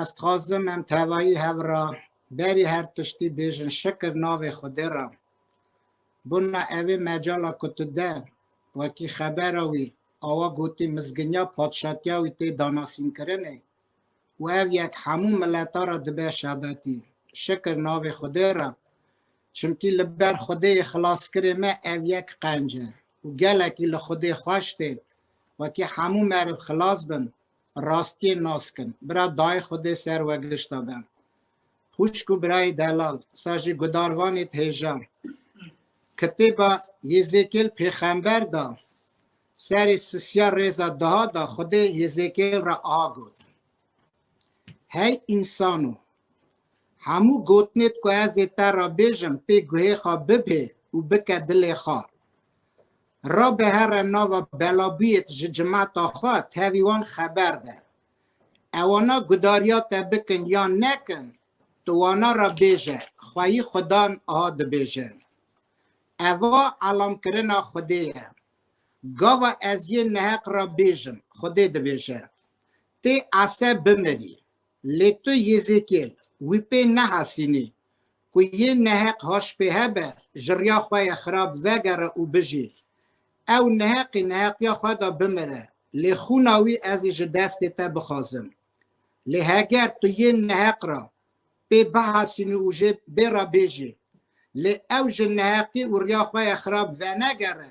Ez dixwazim em tevayî hev ra berî her tiştî bêjin şikir navê Xwedê ra. Bûna evê mecala ku tu de wekî xebera wî awa gotî mizginiya padşatiya wî tê danasînkirinê û ev yek hemû mileta ra dibe şadetî. Şikir navê Xwedê ra Çimkî li ber Xwedêyê xilaskirê me ev yek qenc e û gelekî li Xwedê xweş tê wekî hemû meriv xilas bin, rastiyê nas kin. Bira dayê Xwedê ser we gişta be. Xwişk û birayê delal, sa jî gudarvanê thêja. Kitêba Yêzêkêl pêxember da, serê sisiya rêza duha da Xwedê Yêzêkêl re aha got. Hey însan o, Hemû gotinêt ku ez ê te re bêjim pê guhê xwe bibhê û bike dilê xwe. Ra bihere nava belabûyêt ji cimeta xwe tevî wan xeber de. Ewana gudariya te bikin yan nekin, tu wana re bêje, xweyî xudan aha dibêjin. Eva elamkirina Xwedê ye. Gava ez yê neheq re bêjim, Xwedê dibêje. Tê Ese bimirî. Lê tu Yêzêkîel wî pê nehasînî ku yên neheq haşpêhe be, ji riya xwe yê xirab vegere û bijî. Ew neheqî neheqiya xwe da bimire, lê xûna wî ez ê ji destê te bixwazim. Lê heger tu yên neheq ra pê bihasînî û jê bê re bêjî, lê ew ji neheqî û riya xwe yê xirab venegere,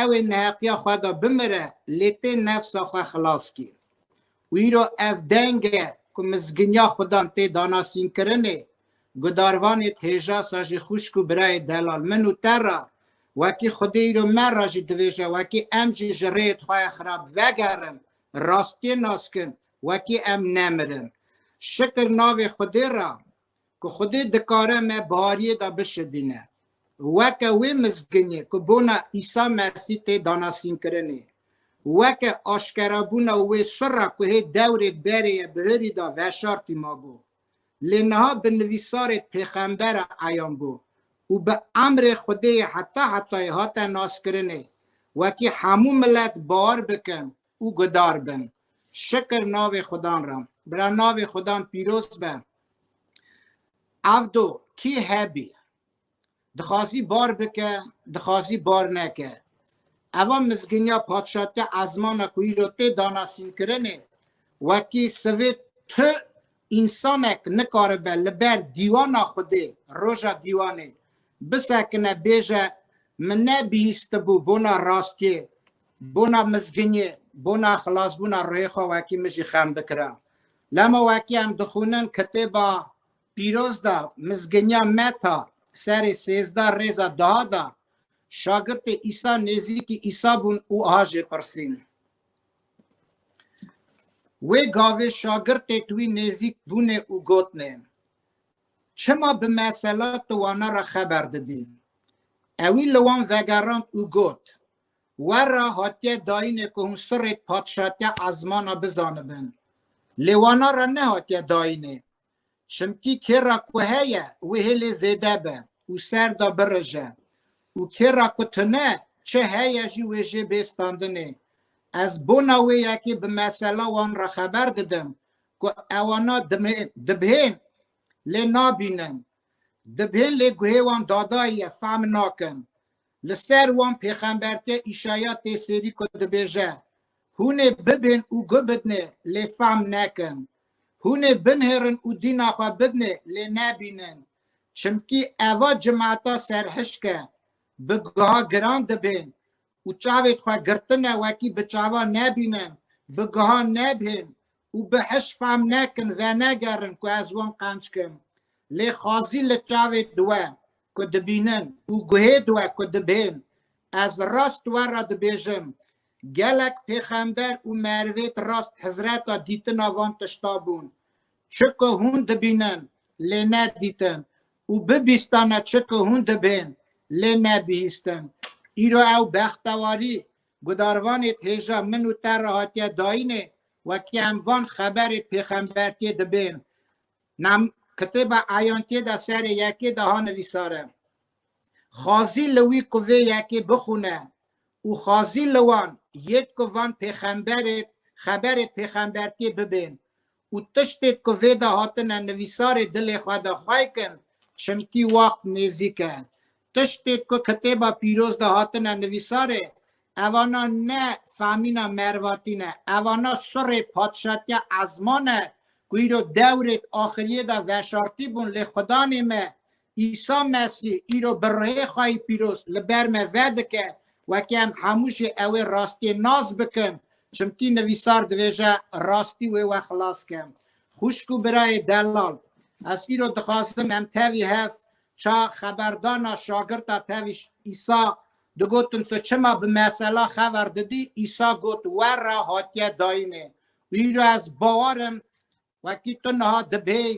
Ew ê neheqiya xwe de bimire lê tê nefsa xwe xilas kîn û îro ev denge ku mizginiya xudan tê danasînkirinê gudarvanê dhêja sa jî xwişk û birayê delal min û te ra wekî xwedê îro me ra jî divêje wekî em jî ji rêyê Twaya xirab vegerin rastiyê nas kin wekî em nemirin şikir navê xwedê ra ku Xwedê dikare me bihariyê de bişibîne. Weke wê mizginê ku bona Îsa Mesî tê danasînkirinê, weke aşkerabûna wê sirra ku hê dewrêk berê ye bi hirî de veşartî mabû. Lê niha bi nivîsarê pêxembere eyan bû û bi emrê Xwedê yê heta hetayê hate naskirinê. Wekî hemû milet bawar bikin û gudar bin. Şikir navê Xudan ra. Bira navê Xudan pîroz be. Evdo kî hebî. Dixwazî bar bike, dixwazî bar neke. Eva mizginiya padşatiya ezmana ku îro tê danasînkirinê wekî sivê tu însanek nikaribe li ber dîwana Xwedê roja dîwanê bisekine bêje min nebihîstibû bona rastiyê Bona mizginî, bona xilasbûna ruhê xwe wekî min jî xem dikira. Lema wekî em dixwînin kitêba pîroz de Mizginiya Meta serê sêzdeh rêza duha da, şagirtê Îsa nêzîkî Îsa bûn û aha jê pirsîn. Wê gavê şagirtê tu wî nêzîk bûnê û gotnê, Çima bi mesela tu wana re xeber didî? Ewî li wan vegerand û got, Wer re hatiye dayîne ku hûn sirrêt patişatiya ezmana bizanibin. Lê wana re nehatiye dayîne. Çimkî kê re ku heye wê hêlê zêde be û ser de birije û kê re ku tune çi heye jî wê jê bê standinê. Ez bona wê yekê bi mesela wan re xeber didim ku ewana dibhên lê nabînin. Dibhên lê guhê wan dadayî ye, fehm nakin. Li ser wan pêxemberke Îşaya tê sêrî ku dibêje, Hûn ê bibin û guh bidinê, lê fehm nekin. Hûn ê binihêrin û dîna xwe bidinê, lê nebînin. Çimkî eva cimata serhişk e, bi guha giran dibên û çavê di xwe girtine wekî bi çavan nebînin, bi guhan nebihên û bi hiş fam nekin venegerin ku ez wan qenc kim, lê xwazî li çavê diwe ku dibînin û guhê diwe ku dibên. Ez rast we re dibêjim, gelek pêxember û merivêt rast hizreta dîtina van tişta bûn. Çiku hûn dibînin, lê ne dîtin û bibîstane çiku hûn dibên, lê ne bihîstin. Îro ew bextewarî gudarvanê di hêja min û te re hatiye dayînê Wekî em van xeberê pêxembertiyê dibên nam kitêba Eyantiyê de serê yekê de ha nivîsare. Xwazî li wî ku vê yekê bixwine û xwazî li wan yêt ku van pêxemberê xeberê pêxembertiyê bibên û tiştêt ku vê de hatine nivîsarê dilê xwe de xweykin çimkî waxt nêzîk e. Tiştê ku kitêba pîroz de hatine nivîsarê, evana ne famîna Mervatî ne, evana surê Padşatiya Ezman e ku îro dewrêk axiriyê de veşartî bûn lê Xudanê me Îsa Mesî îro bi rihê xwayî pîroz li ber me vedike wekî em hemû jî ewê rastiyê nas bikin çimkî nivîsar divêje rastî wê we xilas ke. Xwişk û birayê delal ez îro dixwazim em tevî hev Ça xeberdana şagirta tevîş Îsa digotin tu çima bi mesela xever didî Îsa got werra hatiye dayînê û îro ez bawerim wekî tu niha dibêy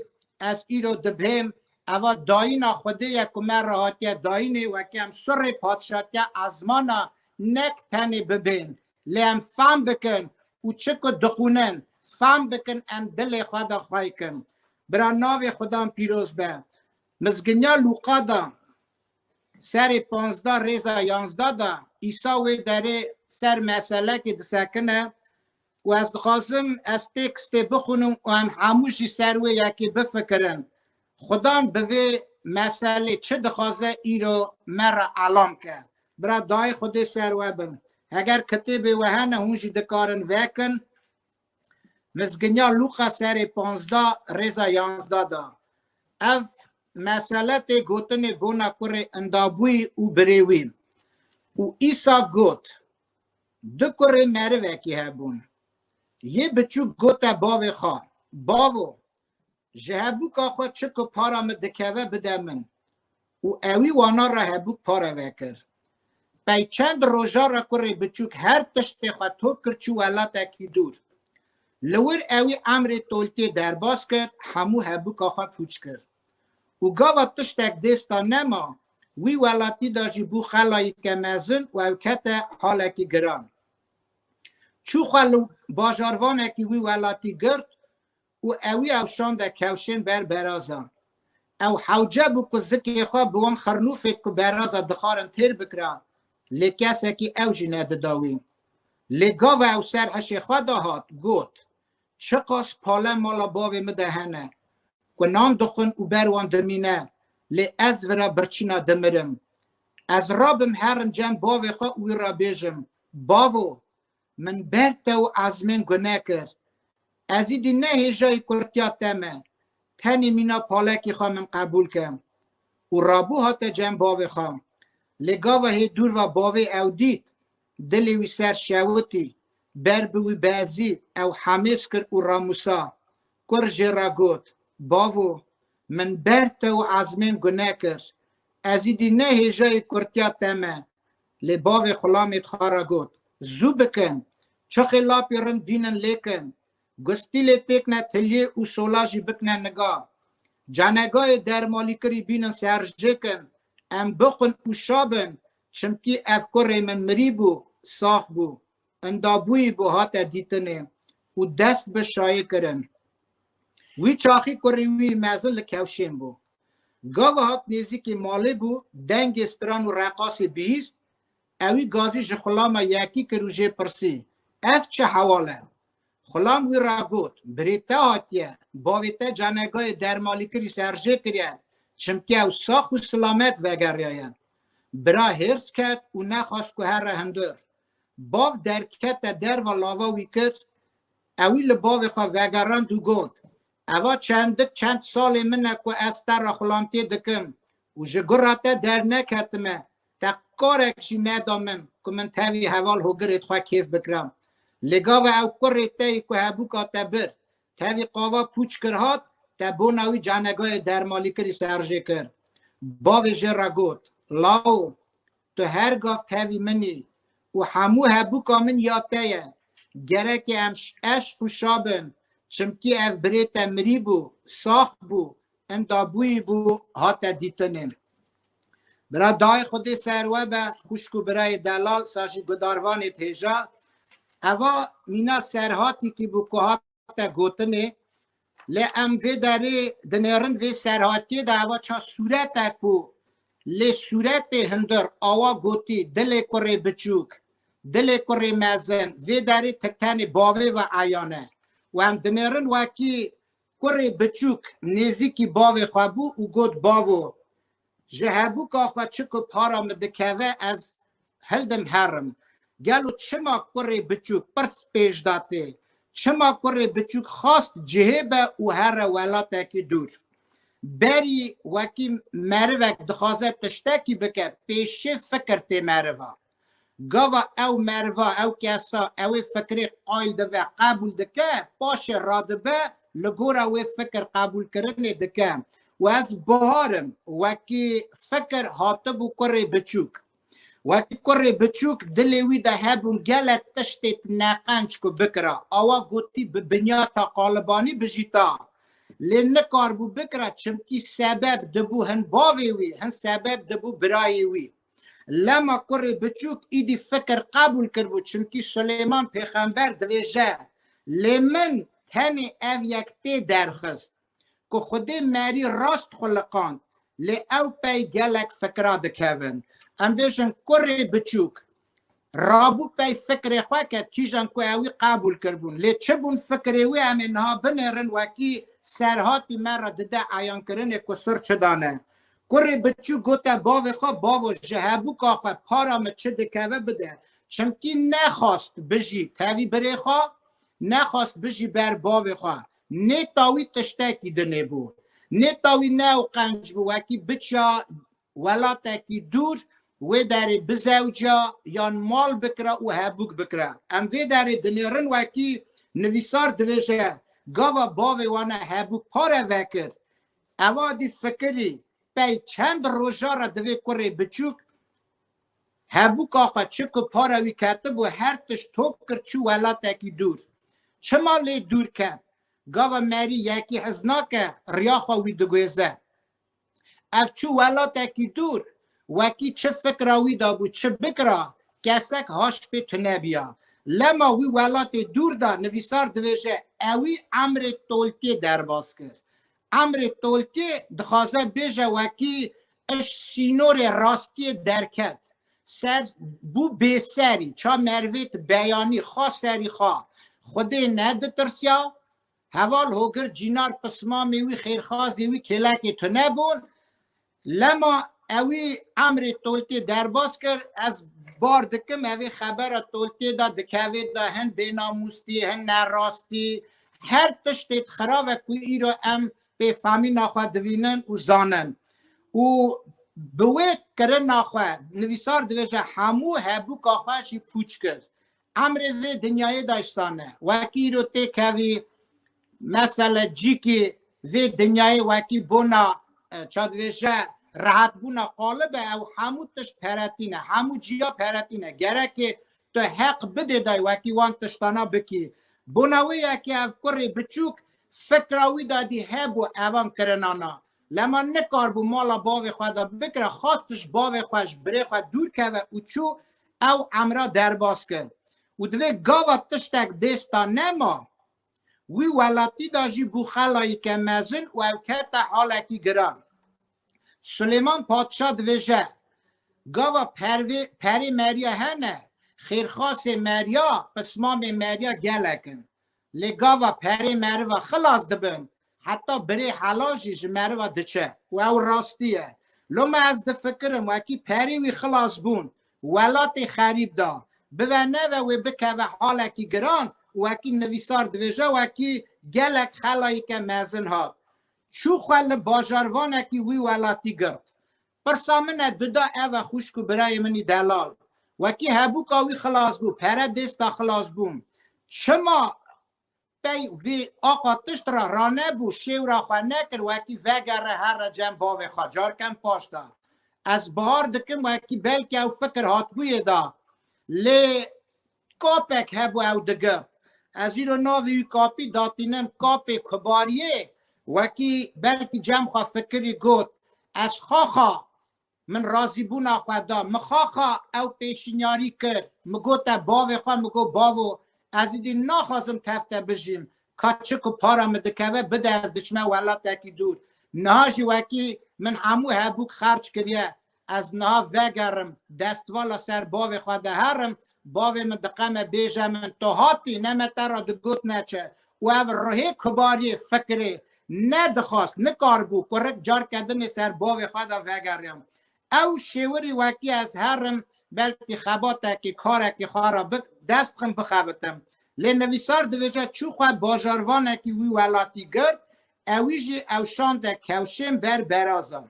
ez îro dibêm eva dayîna xwedê ye ku me re hatiye dayînê wekî em surê patişatiya ezmana nek tenê bibên lê em fam bikin û çi ku dixwînin fam bikin em dilê xwe de xweykin bira navê xudan pîroz be Mizginiya Lûqa de serê panzda rêza yanzda de Îsa wê derê ser meselekê disekine û ez dixwazim ez têkstê bixwînim û em hemû jî ser wê yekê bifikirin. Xudan bi vê meselê çi dixwaze îro me re elam ke. Bira dayê Xwedê ser we bin. Heger kitêbê we hene hûn jî dikarin vekin. Mizginiya Luqa serê panzda rêza yanzda da. Ev mesele tê gotinê bona kurê Indabûyî û Birêwî. Û Îsa got, Du kurê merivekî hebûn. Yê biçûk gote bavê xwe, Bavo, Ji hebûka xwe çi ku para min dikeve bide min. Û ewî wana re hebûk pare vekir. Pey çend roja re kurê biçûk her tiştê xwe tok kir çû welatekî dûr. Li wir ewî emrê tolkê derbas kir hemû hebûka xwe pûç kir. Û gava tiştek dêsta nema, wî welatî de jî bû xelayîke mezin û ew kete halekî giran. Çû xwe li bajarvanekî wî welatî girt û ewî ew şande kewşên ber berazan. Ew hewce bû ku zikê xwe bi wan xirnûfê ku beraza dixwarin têr bikira, lê kesekî ew jî nedida wî. Lê gava ew ser hişê xwe de hat, got, Çiqas pale mala bavê min de hene, ku nan dixwin û ber wan dimîne, lê ez vi re birçîna dimirim. Ez rabim herin cem bavê xwe û wî re bêjim, Bavo! Min ber te û ezmên ku nekir. Ezî dî ne hêjayî kurtiya te me. Tenê mîna palekî xwe min qebûl ke. Û rabû hate cem bavê xwe. Lê gava hê dûr va bavê ew dît. Dilê wî ser şewitî. Ber bi wî bezî, ew hemêz kir û ramûsa. Kur jê ra got, Bavo, min ber te û ezmên ku nekir. Ezî dî ne hêjayî kurtiya te me. Lê bavê xulamê xwe re got, Zû bikin, çixê lapê rind bînin lêkin, gustî lê têkne tiliyê û sola jî bikne niga. Canegayê dermalîkirî bînin serjêkin, em bixwin û şabin, çimkî ev kurê min mirî bû, sax bû. Endabûyî bo hate dîtinê û dest bi şayê kirin. Wî çaxî kurê wî mezin li kewşên bû. Gava hat nêzîkî malê bû, dengê stran û reqasê bihîst, ewî gazî ji xulama yekî kir û jê pirsî, Ev çi hewal e? Xulam wî ra got, Birê te hatiye, bavê te canegayê dermalîkirî serjê kiriye, çimkî ew sax û silamet vegeriyaye. Bira hêrs ket û nexwest ku here hundir. Bav derkete derva lava wî kir, ewî li bavê xwe vegerand û got, Eva çendik çend salê min e ku ez te re xulantiyê dikim û ji gura te derneketime, te karek jî neda min ku min tevî heval hogirê di xwe kêf bikiram. Lê gava ew kurê te yî ku hebûka te bir, tevî qava pûç kir hat, te bona wî canegayê dermalîkirî serjê kir. Bavê jê re got, Lao! Tu her gav tevî min î û hemû hebûka min ya te ye. Gereke em eşq û şa bin, çimkî ev birê te mirî bû, sax bû, inda bûyî bû hate dîtinê. Bira dayê xwe dê ser we be, xwişk û birayê delal sa jî gudarvanê dihêja. Eva mîna serhatîkî bû ku hat te gotinê lê em vê derê dinêrin vê serhatiyê de eva ça sûrete ku lê sûretê hindir awa gotî dilê kurê biçûk dilê kurê mezin vê derê ti tenê bavê ve eyan e û em dinêrin wekî kurê biçûk nêzîkî bavê xwe bû û got bavo Ji hebûka xwe çi ku para min dikeve ez hildim herim. Gelo çima kurê biçûk pirs pêş da tê? Çima kurê biçûk xast cihê be û here welatekî dûr? Berî wekî merivek dixwaze tiştekî bike pêşê fikir tê merivan. Gava ew meriva, ew kesa, ew ê fikirê qayl dibe, qebûl dike, paşê radibe, li gora wê fikir qebûlkirinê dike. Û ez Bihar im, wekî fikir hatibû kurê biçûk. Wekî kurê biçûk dilê wî de hebûn gelek tiştê neqenc ku bikira. Awa gotî bi binyata qalibanî bijîta. Lê nikaribû bikira çimkî sebeb dibû hin bavê wî, hin sebeb dibû birayê wî. Lema kurê biçûk îdî fikir qebûl kiribû çimkî Suleyman pêxember dibêje lê min tenê ev yek tê derxist ku Xwedê merî rast xuliqand lê ew pey gelek fikira dikevin. Em bêjin kurê biçûk Rabû pey fikrê xwe ke kîjan ku ew wî qebûl kiribûn. Lê çi bûn fikrê wî em ê niha binêrin wekî serhatî me re dide eyankirinê ku sir çi dane. Kurê biçûk gote bavê xwe, Bavo ji hebûka xwe para min çi dikeve bide. Çimkî nexwast bijî tevî birê xwe, nexwast bijî ber bavê xwe. Nêta wî tiştekî dinê bû. Nêta wî ne ew qenc bû wekî biçiya Welatekî dûr wê derê bizewca yan mal bikira û hebûk bikira. Em vê derê dinêrin wekî nivîsar dibêje gava bavê wane hebûk pare vekir. Eva dî fikirî pey çend roja re divê kurê biçûk hebûka xwe çi ku pare wî ketibû her tişt top kir çû welatekî dûr. Çima lê dûr ket? Gava merî yekî hez nake riya xwe wî diguêze. Ev çi welatekî dûr, wekî çi fikra wî de bû, çi bikra, kesek haşpê tune biya. Lema wî welatê dûr de nivîsar dibêje ewî Emrê Tolkê derbas kir. Emrê Tolkê dixwaze bêje wekî iş sînorê rastiyê derket. Ser bû bêserî, ça merivêt beyanî, xa serî xa. Xwedê neditirsiya, Heval Hogir Cînar Pismamê wî, xêrxazê wî kêlekê tune bûn. Lema ewî emrê Toltê derbas kir, ez bar dikim evê xebera Toltê de dikevê de hin bênamûstî, hin nerastî, her tiştê xirave ku îro em pê famîna xwe divînin û zanin. Û bi wê kirina xwe nivîsar dibêje hemû hebûka xwe jî pûç kir. Emrê vê dinyayê de sane. Wekî îro tê kevî mesele cîkî vê dinyayê wekî bona çadivêje rehetbûna qalib e ew hemû tişt peretîn e. Hemû cîya peretîn e. Gerekê tu heq bidê dayê wekî wan tiştana bikî. Bona wê ye ke ev kurê biçûk fikra wî de dî hebû evan kirinana. Lema nikaribû mala bavê xwe de bikire, xwest ji bavê xwe, ji birê xwe dûr keve û çû ew emra derbas kir. Û divê gava tiştek bêsta nema, wî welatî de jî bû xelayîke mezin û ew kete halekî giran. Silêman Patişa dibêje, Gava pervê, perê Merya hene, xêrxasê Merya, pismamê Merya gelek in. Lê gava perê meriva xilas dibin, heta birê helal jî ji meriva diçe û ew rastî ye. Loma ez difikirim wekî perê wî xilas bûn, welatê xerîb da, bive neve wê bikeve halekî giran û wekî nivîsar dibêje wekî gelek xelayîke mezin hat, çû xwe li bajarvanekî wî welatî girt. Pirsa min e Duda ev e xwişk û birayê min î delal. Wekî hebûka wî xilas bû, pere dêsta xilasbûn. Çima pey vê aqa tişt ra ranebû, şêwra xwe nekir, wekî vegere herre cem bavê xwe, carkem paş da. Ez bihar dikim wekî belkî ew fikir hatibûyê da. Lê Kapek hebû ew digir. Ez îro navê wî kapî datînim kapê kubariyê. Wekî belkî cem xwe fikirî got, ez xaxa min razîbûna xwe da. Mi xaxa ew pêşînyarî kir. Mi gote bavê xwe, mi got bavo ez îdî naxwazim tev te bijîm. Ka çi ku para mi dikeve bide ez diçime welatekî dûr. Niha jî wekî min hemû hebûk xerc kiriye. Ez niha vegerim, destvala ser bavê xwe diherim, bavê min diqeme bêje min tu hatî ne me te ra digot neçe û ev ruhê kibariyê fikirê nedixwast, nikaribû kurik carke dinê ser bavê xwe de vegeriya. Ew şêwirî wekî ez herim belkî xebatekî, karekî xwe ra bi dest xim bixebitim. Lê nivîsar dibêje çû xwe bajarvanekî wî welatî girt, ewî jî ewşande kewşên ber berazan.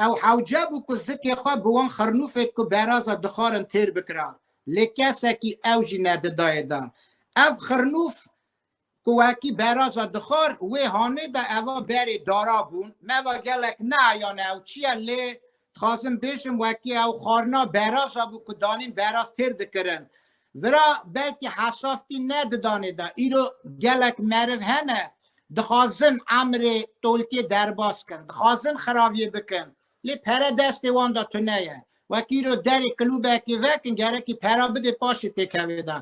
Ew hewce bû ku zikê xwe bi wan xirnûfê ku beraza dixwarin têr bikira, lê kesekî ew jî nedidaye da. Ev xirnûf ku wekî beraza dixwar wê hanê da eva berê dara bûn. Me va gelek neayane ew çi ye lê dixwazim bêjim wekî ew xwarina beraza bû ku danîn beraz têr dikirin. Vira belkî hesaftî ne di danê de îro gelek meriv hene dixwazin emrê tolkê derbas kin, dixwazin xiraviyê bikin lê pere destê wan de tune ye. Wek îro derê klûbekê vekin gerekî pera bidê paşê tê kevê de.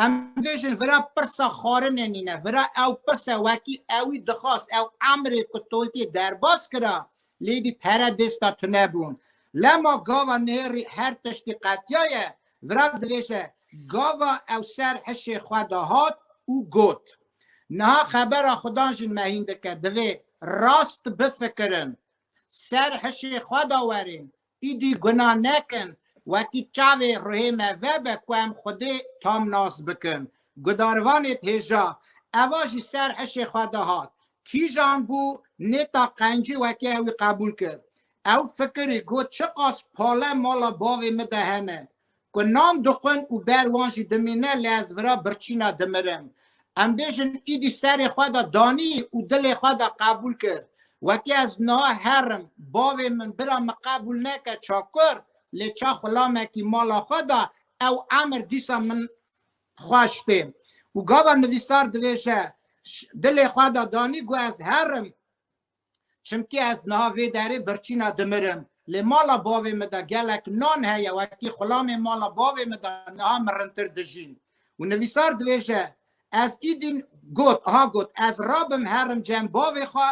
Em bêjin vira pirsa xwarinê nîne, vira ew pirse wekî ewî dixwast ew emrê ku tolkê derbas kira Lêdî pere dêsta tune bûn. Lema gava nêrî her tiştî qetiyaye, vira divêje, gava ew ser hişê xwe de hat û got, Niha xebera xwe dan jîn me hîn dike, divê rast bifikirin. Ser hişê xwe de werin, Îdî gunah nekin, wekî çavê ruhê me vebe ku em Xwedê tam nas bikin. Gudarvanê d'hêja, eva jî ser hişê xwe de hat. Kîjan bû nêta qencî wekî ew î qebûl kir. Ew fikirî, got, çiqas pale mala bavê min de hene, ku nan dixwin û ber wan jî dimîne lê ez vira birçîna dimirim. Em bêjin îdî serê xwe de danî û dilê xwe de qebûl kir. Wekî ez niha herim, bavê min bira min qebûl neke çakur lê ça xulamekî mala xwe de ew emir dîsa min xweş tê. Û gava nivîsar dibêje, Dilê xwe de danî ku ez herim, Çimkî ez niha vê derê birçîna dimirim. Lê mala bavê min de gelek nan heye wekî xulamên mala bavê min de niha mirintir dijîn. Û nivîsar dibêje, Ez îdîn got, ha got, ez rabim herim cem bavê xwe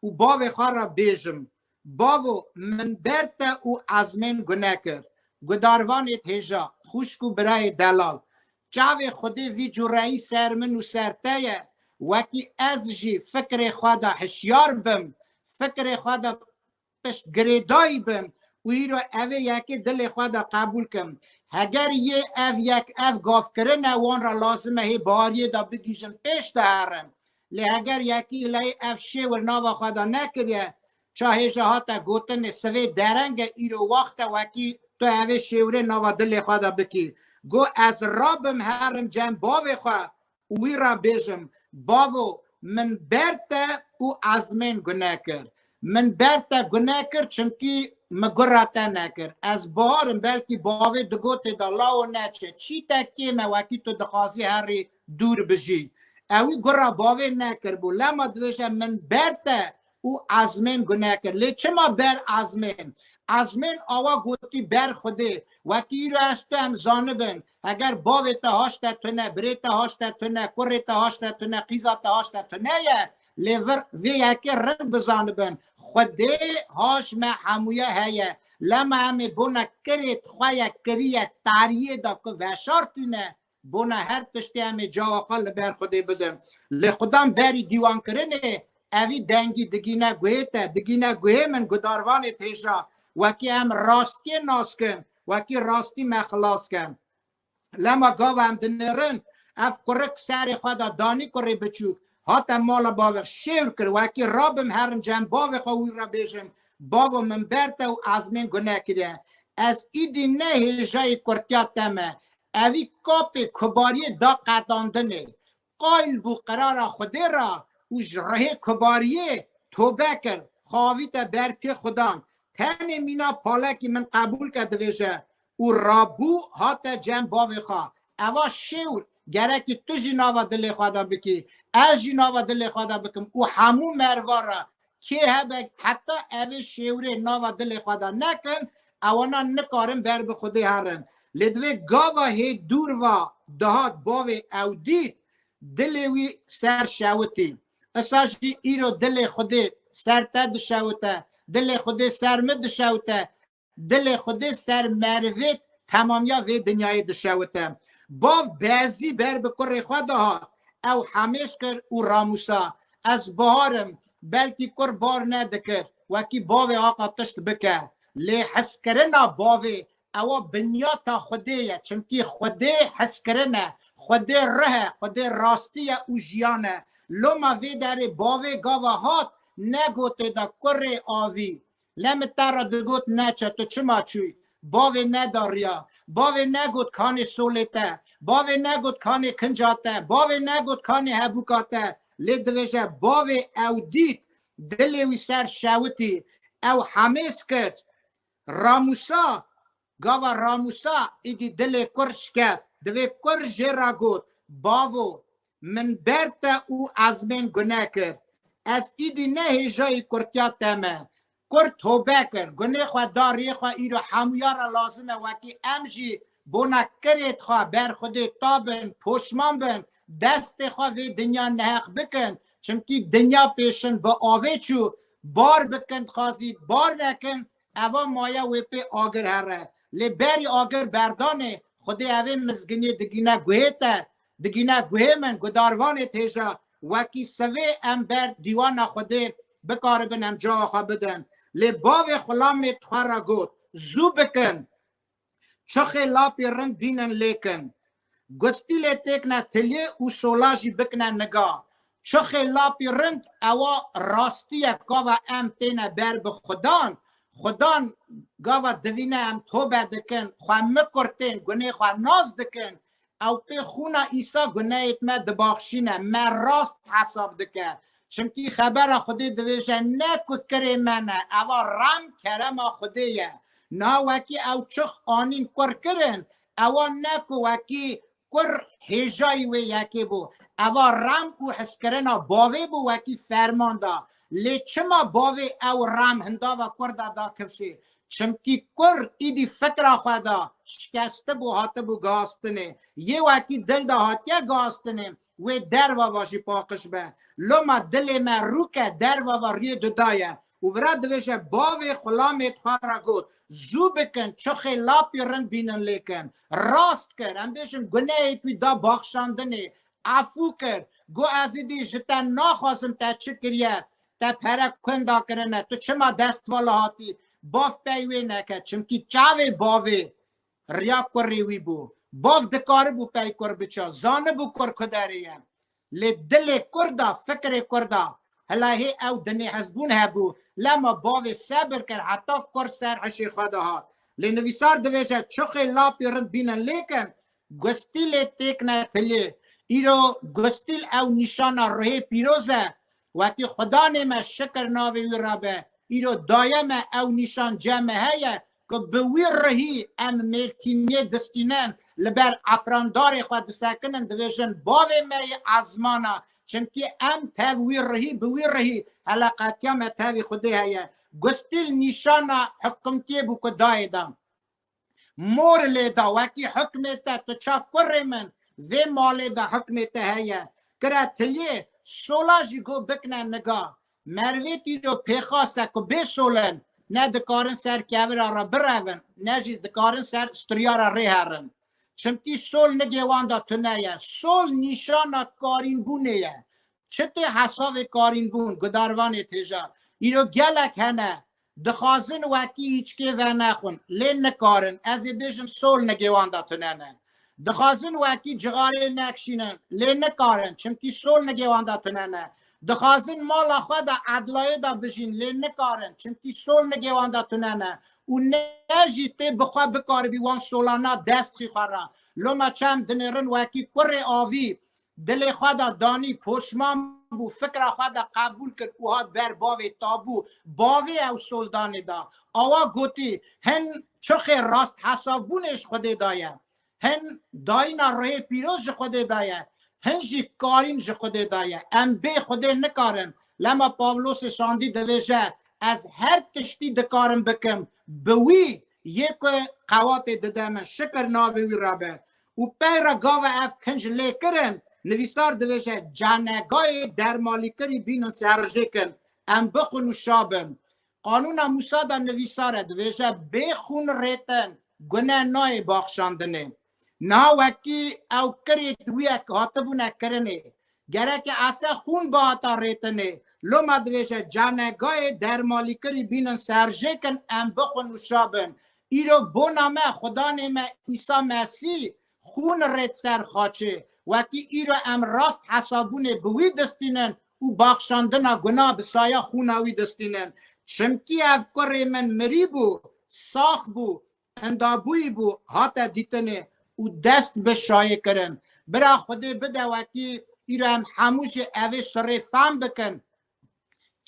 û bavê xwe re bêjim, Bavo, min ber te û ezmên gune kir. Gudarvanê thêja, xwişk û birayê delal. Çavê Xwedê vî cureyî ser min û ser te ye, wekî ez jî fikirê xwe de hişyar bim, fikirê xwe de pişt girêdayî bim û îro ev ê yekê dilê xwe de qebûl kim. Heger yê ev yek ev gavkirin e wan re lazim e hê bariyê de bigihîjin pêş de herin. Lê heger yekî îlayê ev şêwir nava xwe de nekiriye, Çahê jî hate gotin ê sivê dereng e îro waxt e wekî tu evê şêwirê nava dilê xwe de bikî. Go ez rabim herim cem bavê xwe û wî re bêjim, Bavo min ber te û Ezmên gune kir. Min ber te gune kir çimkî min gura te nekir. Ez bihar im belkî bavê digotê de lawo neçe çî te kêm e wekî tu dixwazî herî dûr bijî. Ewî gura bavê nekiribû lema dibêje min ber te û ezmên gune kir. Lê çima ber ezmên? Ezmên awa gotî ber Xwedê, wekî îro ez tu em zanibin, heger bavê te haşte tune, birê te haşte tune, kurê te haşte tune, qîza te haşte tune ye, lê vir vê yekê rind bizanibin, Xwedê haş me hemûye heye, lema em ê bona kirê xwe ye kirîye tariyê de ku veşartîne, Bona her tiştê em ê cawa xwe li ber Xwedê bidin. Lê Xwedan berî dîwankirinê evî dengî digîne guhê te, digîne guhê min gudarvanê t'hêja. Wekî em rastiyê nas kin, wekî rastî me xilas ke. Lema gava em dinêrin, ev kurik serê xwe de danî kurê biçûk, hate mala bavê xwe şêwr kir, wekî rabim herin cem bavê xwe wî re bêjim, Bavo min ber te û ezmên gune kiriye. Ez îdî ne hêjayê kurtiya te me, Evî kapê Kobariyê da qedandinê, qayl bû qerara Xwedê re û ji rihê Kobariyê tobe kir, xavîte ber pê Xwedan, tenê mîna palekî min qebûl ke divêje û rabû hate cem bavê xwe. Eva şêwr, gerekî tu jî nava dilê xwe de bikî, ez jî nava dilê xwe de bikim û hemû merva re Kê hebe heta evê şêwirê nava dilê xwe de nekin, ewanan nikarin ber bi Xwedê herin. Lê divê gava hê dûr va dihat bavê ew dît, dilê wî ser şewitî. Isa jî îro dilê Xwedê ser te dişewite, dilê Xwedê ser min dişewite, Dilê Xwedê ser merivê temamiya vê dinyayê dişewite. Bav bezî ber bi kurê xwe de hat. Ew hemêz kir û ramûsa, Ez bihar im, belkî kur bar nedikir, wekî bavê aqa tişt bike. Lê hizkirina bavê ewa binyata Xwedê ye, çimkî Xwedê hizkirin e, Xwedê rih e, Xwedê rastî ye û jiyan e. Loma vê derê bavê gava hat, negotê da kurê avî, Lê min te re digot neçe, tu çima çûyî? Bavê neda riya, bavê negot kanê solê te, bavê negot kanê kinca te, bavê negot kanê hebûka te, lê dibêje bavê ew dît, dilê wî ser şewitî, ew hemêz kir, Ramûsa, Gava ramûsa êdî dilê kur şikest. Divê kur jê re got, Bavo, min ber te û ezmên gune kir. Ez êdî ne hêjayî kurtiya te me. Kur tobe kir, gunê xwe da rê xwe îro hemûya re lazim e wekî em jî bona kirê xwe ber xwedê ta bin, poşman bin, destê xwe vê dinya neheq bikin, çimkî dinya pêşin bi avê çû, bar bikin xazî bar nekin, Eva maya wê pê agir here. Lê berî agir berdanê, xwedê evê mizginî digîne guhê te, digîne guhê min, gudarvanê têja. Wekî sivê em ber dîwana xwedê bikaribin em cawa xwe bidin. Lê bavê Xulamê tixwe re got, Zû bikin! Çixê lapê rind bînin lêkin. Gustî lê têkne tilê û sola jî bikne niga. Çixê lapê rind ewa rastî ye gava em têne ber bi xudan. Xudan gava divîne em tobe dikin, xwe mikurtên, gunê xwe nas dikin, Ew pê xûna Îsa guneyêt me dibaxşîne, me rast hesab dike. Çimkî xebera Xwedê dibêje ne ku kirê me ne, eva rem kerema Xwedê ye. Niha wekî ew çix anîn kur kirin, ewa ne ku wekî kur hêjayî wê yekê bû. Eva rem û hizkirina bavê bû wekî ferman da. Lê çima bavê ew rem hindava kur da da kifşê? Çimkî kur îdî fikra xwe da şikestibû hatibû gastinê, yê wekî dil de hatiye gastinê wê derva va jî paqiş be. Loma dilê me rûk e derva va riyê duda ye û vira divêje bavê xulamê xwe re got, Zû bikin çixê lapî rind bînin lê kin. Rast kir, em bêjin gunehê wî da baxşandinê, efû kir, got ez îdî ji te naxwazim te çi kiriye, Te pere kund da kirine, tu çima dest vala hatî? Bav pey wê neke, çimkî çavê bavê riya kurrî wî bû. Bav dikaribû pey kur biça, zanibû kur kuderê ye. Lê dilê kur da, fikirê kur da, hila hê ew di nêhezbûn hebû, lema bavê sebir kir heta kur ser hişê xwe de hat. Lê nivîsar dibêje, çuxê lapî rind bînin lêkin, gustîlê têkine tiliyê. Îro gustîl ew nîşana ruhê pîroz e, Wekî Xudanê me şikir navê wî re be, îro daye me ew nîşancê me heye ku bi wî rihî em mêrtîniyê distînin, li ber efrandarê xwe disekinin, dibêjin bavê me yê ezmana, çimkî em tev wî rihî, bi wî rihî hele qetiya me tevî Xwedê heye. Gustîl nîşana hikimtiyê bû ku dayê da. Mor lê da wekî hukmê te tu ça kurê min vê malê de hukmê te heye. Kira tiliyê sola jî go bikne niga. Merivê tîro pêxas e ku bê solin ne dikarin ser kevira re birevin ne jî dikarin ser sturiya re rê herin. Çimkî sol nigê wan de tune ye. Sol nîşana karînbûnê ye. Çi tê hesavê karînbûn, gudarvanê têja. Îro gelek hene Dixwazin wekî hîçkê venexwin, lê nikarin, ez ê bêjim sol nigêwanda tune ne. Dixwazin wekî cixarê nekişînin, lê nikarin, çimkî sol nigêwanda tune ne. Dixwazin mala xwe de edlayê de bijîn, lê nikarin, çimkî sol nigêwanda tune ne. Û ne jî tê bi xwe bikaribî wan sola na dest xî xwe ra. Loma çem dinêrin wekî kurê avî, Dilê xwe de danî, poşman bû, fikra xwe de qebûl kir û hat ber bavê tabû. Bavê ew soldanê da. Awa gotî, Hin çixê rasthesavbûnê ji Xwedê da ye. Hin dayîna ruhê pîroz ji Xwedê da ye. Hin jî karîn ji Xwedê da ye. Em bê Xwedê nikarin. Lema Pawlosê Şandî dibêje, Ez her tiştî dikarim bikim bi wî yê ku qewatê dide min. Şikir navê wî re be. û peyra gava ev kinc lêkirin nivîsar dibêje canegayê dermalîkirî bînin serjêkin em bixwin û şabin. Qanûna Mûsa de nivîsare dibêje bê xûn rêtin gune nayê baxşandinê. Niha wekî ew kirê duyek hatibûne kirinê Gereke ese xûn bihata rêtinê. Loma dibêje canegayê dermalîkirî bînin serjêkin em bixwin û şabin. Îro bona me, xudanê me Îsa Mesî xûn rêt ser xaçê. Wekî îro em rast hesabûnê bi wî distînin û baxşandina guna bi saya xûna wî distînin. Çimkî ev kurê min mirî bû, sax bû, Endabûyî bû hate dîtinê û dest bi şayê kirin. Bira Xwedê bide wekî îro em hemû jî evê sirê fam bikin.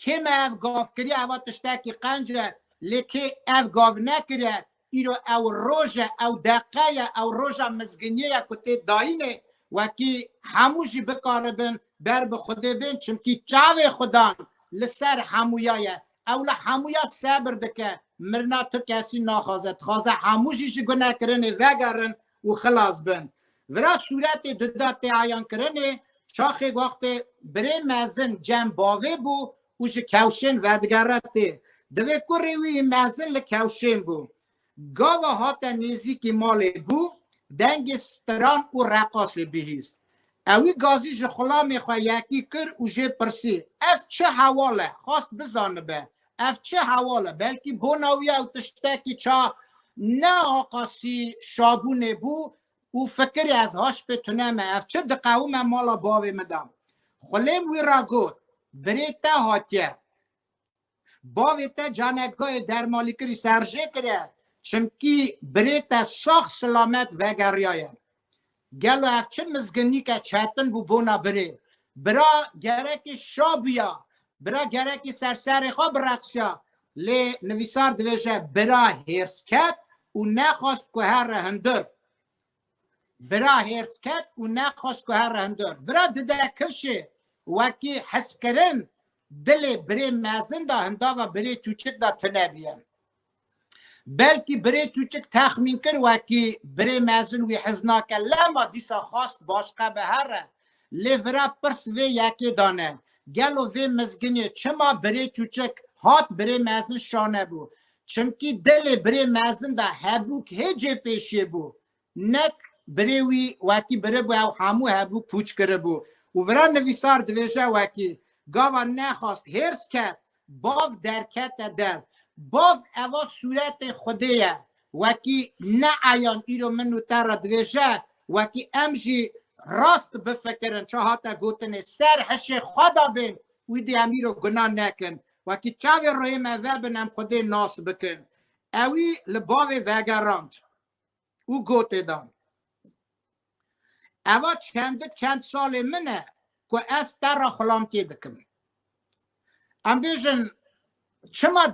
Kê me ev gav kiriye eva tiştekî qenc e lê kê ev gav nekiriye îro ew roj e, ew deqe ye, ew roja mizginiyê ye ku tê dayînê wekî hemû jî bikaribin ber bi Xwedê bên çimkî çavê Xwedan li ser hemûya ye. Ew li hemû ya sebir dike. Mirina tu kesî naxwaze. Dixwaze hemû jî ji gunekirinê vegerin û xilas bin. Vira sûretê di da teayankirinê çaxê wextê birê mezin cem bavê bû û ji kewşên vedigere tê. Divê kurê wî mezin li kewşên bû. Gava hate nêzîkî malê bû, dengê stiran û reqasê bihîst. Ewî gazî ji xulamê xwe yekî kir û jê pirsî, Ev çi hewal e? Xwest bizanibe, ev çi hewal e? Belkî bona wî ew tiştekî ça ne aqasî şabûnê bû û fikirî, Ez haşpê tune me, ev çi diqewime mala bavê min de? Xulêm wî ra got, Birê te hatiye. Bavê te canekgehê dermalîkirî serjê kire çimkî birê te sax silamet vegeriyaye. Gelo ev çi mizginîke çetin bû bona birê. Bira gerekî şa bûya, bira gerekî ser serê xwe bireqsiya. Lê nivîsar dibêje bira hêrs ket û nexwast ku here hundir. Bira hêrsket û nexwest ku here hundir. Vira dide kişê wekî hiskirin dilê birê mezin de hindava birê çûçik de tune biye. Belkî birê çûçik texmîn kir wekî birê mezin wî hez nake lema dîsa xwest başqe be here. Lê vira pirs vê yekê dane, gelo vê mizginê çima birê çûçik hat birê mezin şane bû? Çimkî dilê birê mezin de hebûk hê cê pêşê bû. Nek birê wî wekî biribû ew hemû hebûk pûç kiribû. Û vira nivîsar divêje wekî, gava nexwast hêrs ket, Bav derkete der. Bav eva sûretê Xwedê ye. Wekî neayan îro min û te re dibêje, wekî em jî rast bifikirin çi hate gotinê, ser hişê xwe de bên, wîdî em îro gunah nekin. Wekî çavê royê me vebin em Xwedê nas bikin. Ewî li bavê vegerand. û gotê dan. Eva çendik çend salê min e ku ez te re xulamtiyê dikim. Em bêjin çima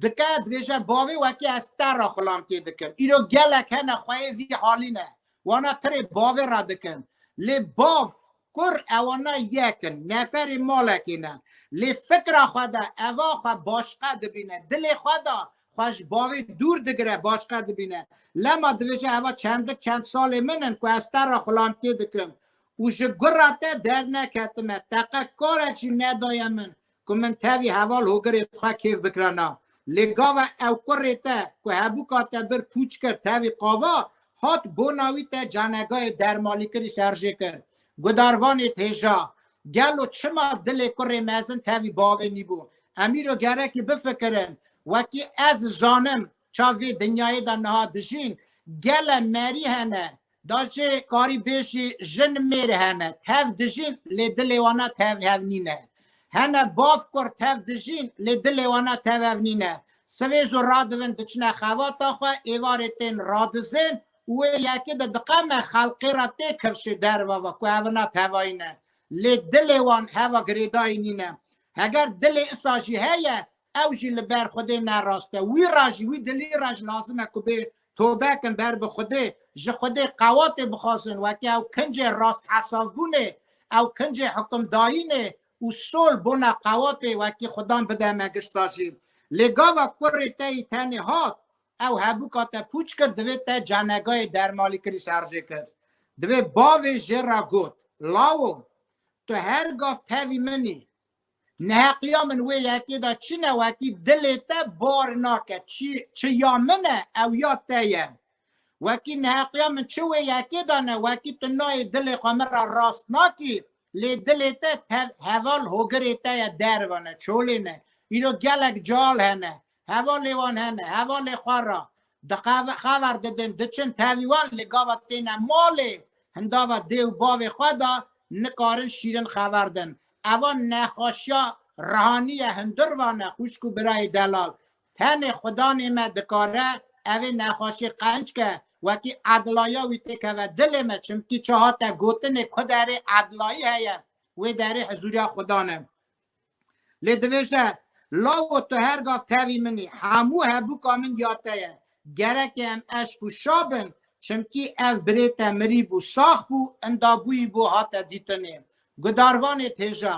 dike dibêje bavê wekî ez te re xulamtiyê dikim. Îro gelek hene xweyê vî halî ne. Wana tirê bavê re dikin. Lê bav Kur ewana yek in, neferê malekê ne. Lê fikra xwe de eva xwe başiqe dibîne, dilê xwe de xwe ji bavê dûr digire, başiqe dibîne. Lema dibêje eva çendik çend salê min in ku ez te re xulamtiyê dikim û ji gura te derneketime, teqe karek jî nedaye min Ku min tevî heval hogirê xwe kêf bikira na. Lê gava ew kurê te ku hebûka te bir pûç kir tevî qava, hat bona wî te canegayê dermalîkirî serjê kir. Gudarvanê thêja, Gelo çima dilê kurê mezin tevî bavê nîbû? Em îro gerekî bifikirin. Wekî ez zanim Çav vê dinyayê de niha dijîn gele merî hene, da jê karî bêjî jin mêr hene, tev dijîn lê dilê wana tev hev nîne. Hene bav kur tev dijîn lê dilê wana tev hev nîne. Sivê zû radivin diçine xevata xwe, êvarê tên radizên û wê yekê de diqeme xelqê re tê kevşê derve ve ku hevina tevayî ne. Lê dilê wan heva girêdayî nîne. Heger dilê isa jî heye Ew jî li ber Xwedê ne rast e. Wî re jî, wî dilî re jî lazim e ku bê tobe kin ber bi Xwedê, ji Xwedê qewatê bixwazin wekî ew kincê rasthesavbûnê, ew kincê hukimdayînê û sol bona qewatê wekî Xwedan bide me gişta jî. Lê gava kurê te yî tenê hat, ew hebûka te pûç kir, divê te canegayê dermalîkirî serjê kir. Divê bavê jê re got, Lawo, tu her gav pevî min î, Neheqliya min wê yekê de çi newekî dilê te bar nake, çi çi ya min e ew ya te ye. Wekî neheqliya min çi wê yekê de ne, wekî tu nayê dilê xwe min re rast nakî, lê dilê te tev heval hogirê te ye derve ne, çolê ne. Îro gelek cal hene, Hevalê wan hene, hevalê xwe ra di qeve xever didin, diçin tevî wan lê gavet têne malê hindava dê û bavê xwe de nikarin şîrin xever din. Eva nexweşiya rihanî ye hundir vane xwişk û birayê delal. Tenê xudanê me dikare evê nexweşiyê qenc ke wekî edilaya wî tê keve dilê me çimkî çi hate gotinê ku derê edilayî heye wê derê hizûriya xudan e. Lê dibêje, Lawo tu her gav tevî min î, hemû hebûka min ya te ye. Gereke em eşq û şa bin, çimkî ev birê te mirîbû, sax bû, inda bûyîbû hate dîtinê. Gudarvanê pêja,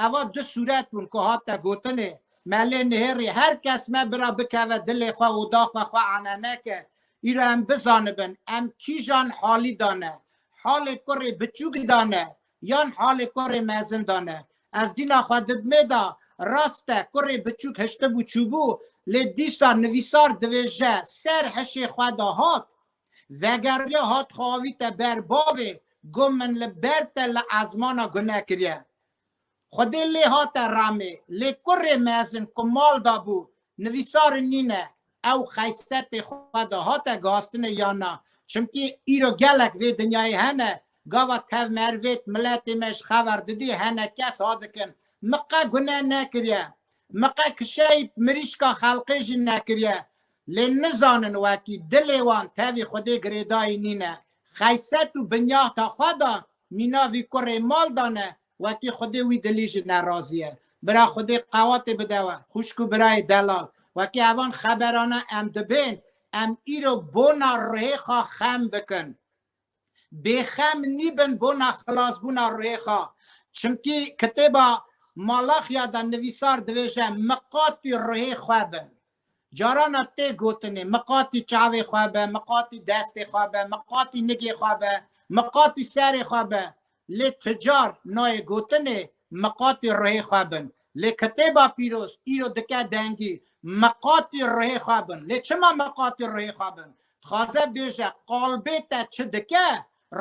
eva du sûret bûn ku hate gotinê, me lê nihêrî her kes me bira bikeve dilê xwe, oda xwe xwe ane neke, îro em bizanibin, em kîjan halî da ne. Halê kurê biçûk da ne, Yan halê kurê mezin de ne. Ez dîna xwe didmê de rast e kurê biçûk hiştibû çûbû lê dîsa nivîsar divêje ser hişê xwe de hat vegeriye hat xwe avîte ber bavê got min li ber te li ezmana gune kiriye. Xwedê lê hate remê lê kurê mezin ku mal de bû nivîsar nîne. Ew xeysepê xwe de hate gastinê yan na? Çimkî îro gelek vê dinyayê hene, gava tevmervêt miletê me ji xever didî hene kes ha dikin. Min qe guneh nekiriye. Min qe kişeyî mirîşka xelqê jî nekiriye. Lê nizanin wekî dilê wan tevî Xwedê girêdayî nîne. Xeyset û binyahta xwe da mîna vî kurê mal dane Wekî xwedê wî dilî jî nerazî ye. Bira xwedê qewatê bide we, xwişk û birayê delal. Wekî evan xeberana em dibên, em îro bona rihêxa xem bikin. Bêxem nîbin bona xilasbûna rihêxa. Çimkî kitêba Malaxya de nivîsar dibêje, Miqatî rihê xwe bin. Carana tê gotinê miqatî çavê xwe be, miqatî destê xwe be, miqatî nigê xwe be, miqatî serê xwe be. Lê tu car nayê gotinê miqatî ruhê xwe bin. Lê kitêba pîroz îro dike dengî miqatî ruhê xwe bin. Lê çima miqatî ruhê xwe bin? Dixwaze bêje qalbê te çi dike,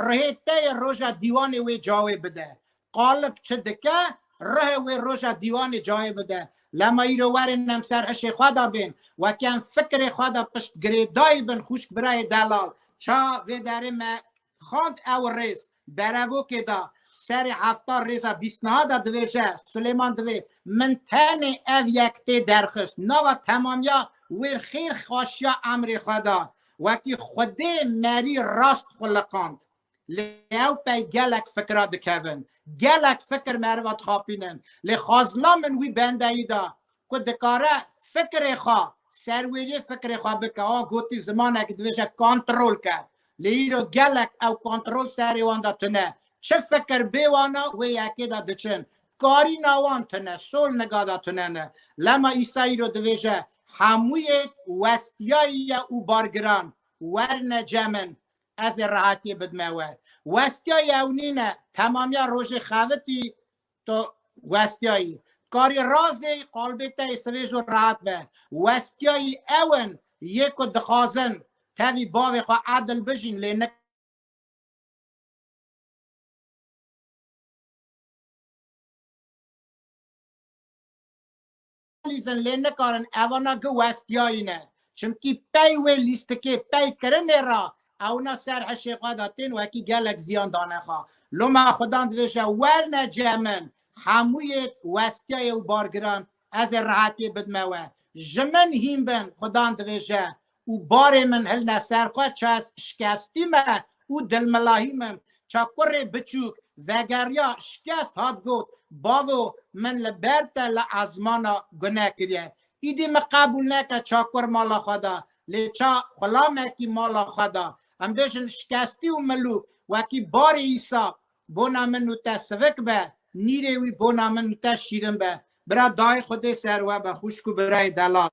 ruhê te yê roja dîwanê wê cawê bide. Qalip çi dike, rihê wê roja dîwanê cayê bide. Lema îro werên em ser hişê xwe de bên. Wekî em fikirê xwe de piştgirê dayî bin xwîşk birayê Delal ça vê derê me xwend ew rêz berevokê da. Serê hefta rêza bîst niha de divêje, Silêman divê. Min tenê ev yek tê derxist, nava temamiya wêr xêr xaşiya emrê xwe da. Wekî xwedê merî rast xwe liqand. Lê ew pey gelek fikra dikevin. Gelek fikir meriva dixapînin. Lê xwazina min wî bendeyî da ku dikare fikirê xwe serwêriyê fikirê xwe bike. Wa gotî zimanekî dibêje kontrol ke. Lê îro gelek ew kontrol serê wan de tune. Çi fikir bê wana wê yekê de diçin. Karîna wan tune, sol niga de tune ne. Lema Îsa îro dibêje hemûyê westiyayî ye û bargiran werne ce min. Ez ê rehatî bidime we. Westiya yew nîne, temamiya rojê xevitî to westiyayî. Karî razê qalbê te ê sivêz û rehat be. Westiyayî ew in yê ku dixwazin tevî bavê xwe edil bijîn lê nik. Lîzin lê nikarin evana gi westiyayîne. Çimkî pey wê lîstikê pey kirinê ra ewna ser hişê xwe de tên û hekî gelek ziyan dane xwe. Loma xudan divêje werne cih min hemû yê westiyayê û bargiran ez ê rehetiyê bidime we. Ji min hîn bin xudan divêje Û barê min hilne ser xwe çes şikestî me û dilmilahî min ça kurê biçûk vegeriya şikest hat got bavo min li ber te li ezmana gune kiriye îdî min qebûl neke ça kur mala xwe da lê ça xulamekî mala xwe da em bêjin şikestî û milûk wekî barê îsa bona min û te sivik be nîrê wî bona min û te şîrin be bira dayê xwedê ser we be xwişk û birayê delal.